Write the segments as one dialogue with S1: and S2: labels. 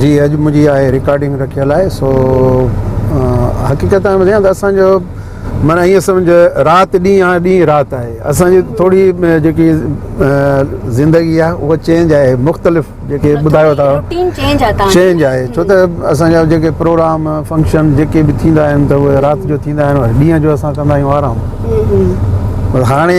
S1: جي اڄ منهنجي آهي رڪارڊنگ رکيل آهي سو حقيقت ۾ ٻڌايان ته اسان جو معنيٰ ائين سمجهه رات ڏينهن آهي ڏينهن رات آهي اسان جي ٿوري جيڪي زندگي آهي اها چينج آهي مختلف جيڪي ٻڌايو ٿا چينج آهي ڇو ته اسان جا جيڪي پروگرام فنڪشن جيڪي به ٿيندا آهن ته اهي رات جو ٿيندا آهن ڏينهن جو اسان ڪندا آهيون آرام هاڻي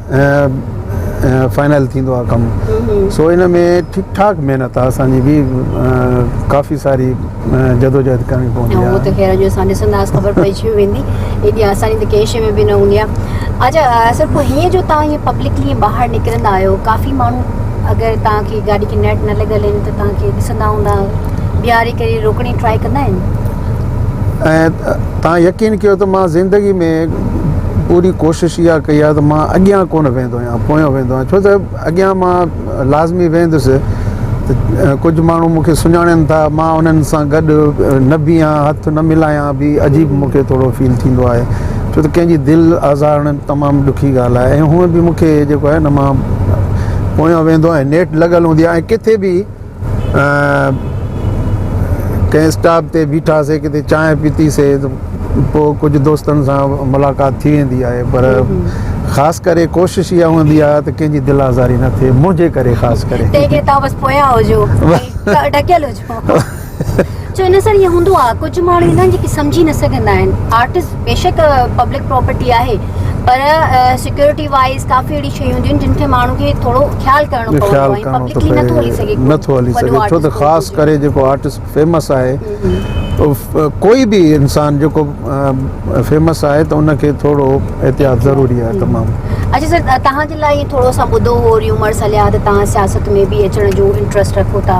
S1: فائنل ٿيندو آهي ڪم سو ان ۾ ٺيڪ ٺاڪ محنت آهي اسان جي ڪافي ساري جدوجهد ڪرڻي پوندي آهي ته خير جو اسان ڏسندا
S2: خبر پئجي ويندي ايڏي آساني ته ڪنهن شي ۾ به نه هوندي آهي اچا اصل پوء هيئن جو تان هي پبلڪلي ٻاهر نڪرندا آهيو ڪافي ماڻهو اگر تان کي گاڏي کي نيٽ نه لڳل آهن ته تان کي ڏسندا هوندا بيهاري ڪري روڪڻي ٽرائي ڪندا آهن
S1: توهان يقين ڪيو ته مان زندگي ۾ پوري ڪوشش اها ڪئي آهي ته مان اڳيان ڪونه ويندو آهيان پويان ويندو آهيان ڇو ته اڳيان مان لازمي ويندس ته ڪجهه ماڻهو مون کي سڃاڻن ٿا مان انهن سان گڏ نه بيهان هٿ نه ملايان به عجيب مون کي ٿورو فيل ٿيندو آهي ڇو ته ڪنهن جي دل آزارڻ تمام ڏکي ڳالهه آهي ۽ هونء به مون کي جيڪو آهي نه مان پويان ويندو آهيان نيٺ لڳل هوندي آهي ۽ ڪٿي به ڪنهن اسٽاپ تي بيٺاسي ڪٿي چانهه پيتي سي پوء ڪجهه دوستن سان ملاقات ٿي ويندي آهي پر خاص ڪري ڪوشش اها هوندي آهي ته ڪنهن جي دل آزاري نه ٿئي منهنجي ڪري خاص ڪري تنهن ڪري تان بس پويان
S2: هجو ۽ ڍڪيل هجو سو ان سان ائين هوندو آهي ڪجهه ماڻهو هوندا آهن جيڪي سمجهي نه سگهندا آهن آرٽس بيشڪ پبلڪ پراپرٽي آهي پر سيڪيورٽي وائيز ڪافي اهڙي شيون هونديون آهن جن کي ماڻهو کي ٿورو خيال ڪرڻو پوندو آهي ۽ پبلڪلي نٿو هلي سگهي ڪو نٿو هلي سگهي ڇو
S1: ته خاص ڪري جيڪو آرٽس فيمس آهي ڪوئي به انسان جيڪو فيمس آهي ته ان کي ٿورو احتياط ضروري آهي تمام اچھا سر تهان جي لاء
S2: ٿورو اسان ٻڌو هو ريومرس هليا ته تهان سياست ۾ به اچڻ جو انٽرسٽ رکو ٿا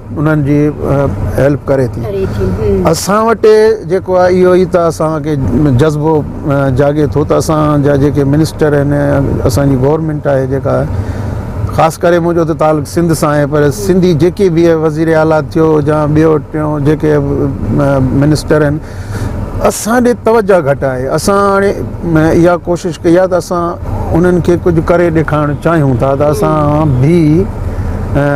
S1: انهن جي هيلپ ڪري ٿي اسان وٽ جيڪو آهي اهو ئي ته اسان کي جذبو جاڳي ٿو ته اسان جا جيڪي منسٽر آهن اسان جي گورنمينٽ آهي جيڪا خاص ڪري منهنجو ته تعلق سنڌ سان آهي پر سنڌي جيڪي به وزير اعليٰ ٿيو يا ٻيو ٽيون جيڪي منسٽر آهن اسان ڏي توجهه گهٽ آهي اسان هاڻي اها ڪوشش ڪئي آهي ته اسان انهن کي ڪجهه ڪري ڏيکارڻ چاهيون ٿا ته اسان به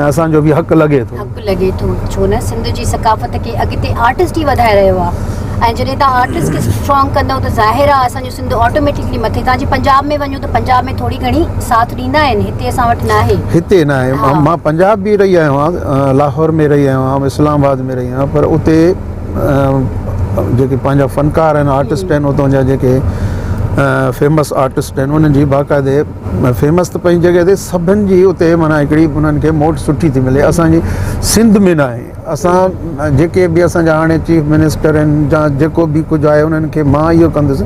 S1: اسان جو به حق لڳي ٿو حق لڳي ٿو ڇو
S2: نه سنڌ جي ثقافت کي اڳتي آرٽسٽ ئي وڌائي رهيو آهي ۽ جڏهن تان آرٽسٽ کي اسٽرانگ ڪندو ته ظاهر آهي اسان جو سنڌ آٽوميٽڪلي مٿي تان جي پنجاب ۾ وڃو ته پنجاب ۾ ٿوري گهڻي ساٿ ڏيندا آهن هتي اسان وٽ نه آهي هتي نه آهي مان
S1: پنجاب به رهي آيو آهيان لاهور ۾ رهي آيو آهيان اسلام آباد ۾ رهي آيو آهيان پر اتي جيڪي پنهنجا فنڪار آهن آرٽسٽ آهن اتان جا جيڪي فيمس آرٽسٽ آهن انهن جي باقاعدي فيمس ته پنهنجي جڳهه تي سڀن جي اتي مانا هڪڙي انهن کي موٽ سٺي ٿي ملي اسانجي سنڌ ۾ ناهي اسان جيڪي به اسان جا هاڻي چيف منسٽر آهن جا جيڪو به ڪجهه آهي انهن کي مان اهو ڪندس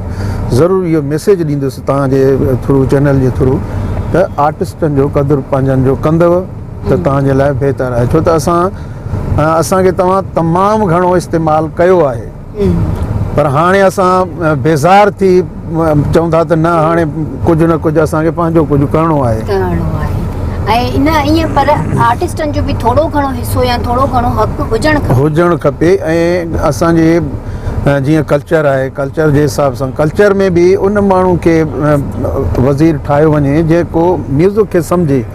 S1: ضرور اهو ميسيج ڏيندس تهان جي ٿرو چينل جي ٿرو ته آرٽسٽن جو قدر پنهنجن جو ڪندو ته توهان جي لاء بهتر آهي ڇو ته اسان اسان کي توهان تمام گهڻو استعمال ڪيو آهي پر هاڻي اسان بيزار ٿي چون ٿا ته نه هاڻي ڪجهه نه ڪجهه اسان کي پنهنجو ڪجهه ڪرڻو آهي ڪرڻو آهي ۽ نه ائين
S2: پر آرٽسٽن جو
S1: به
S2: ٿورو گهڻو حصو يا ٿورو گهڻو حق هجڻ کپي هجڻ کپي ۽
S1: اسان
S2: جي
S1: جيئن ڪلچر آهي ڪلچر جي حساب سان ڪلچر ۾ به ان ماڻهو کي وزير ٺاهيو وڃي جيڪو ميوزڪ کي سمجهي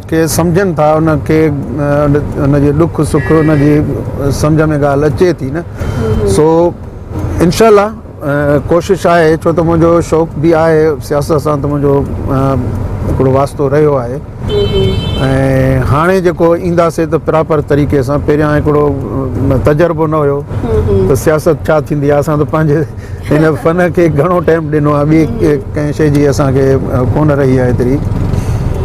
S1: ڪي سمجهن ٿا ان کي ان جي ڏک سک ان جي سمجهه ۾ ڳالهه اچي ٿي نه سو انشاء الله ڪوشش آهي ڇو ته منهنجو شوق به آهي سياست سان ته منهنجو هڪڙو واسطو رهيو آهي ۽ هاڻي جيڪو اينداسي ته پراپر طريقي سان پهريان هڪڙو تجربو نه هيو ته سياست ڇا ٿيندي آهي اسان ته پنهنجي هن فن کي گهڻو ٽائيم ڏنو آهي ٻي ڪنهن شي جي اسان کي ڪونه رهي آهي ايتري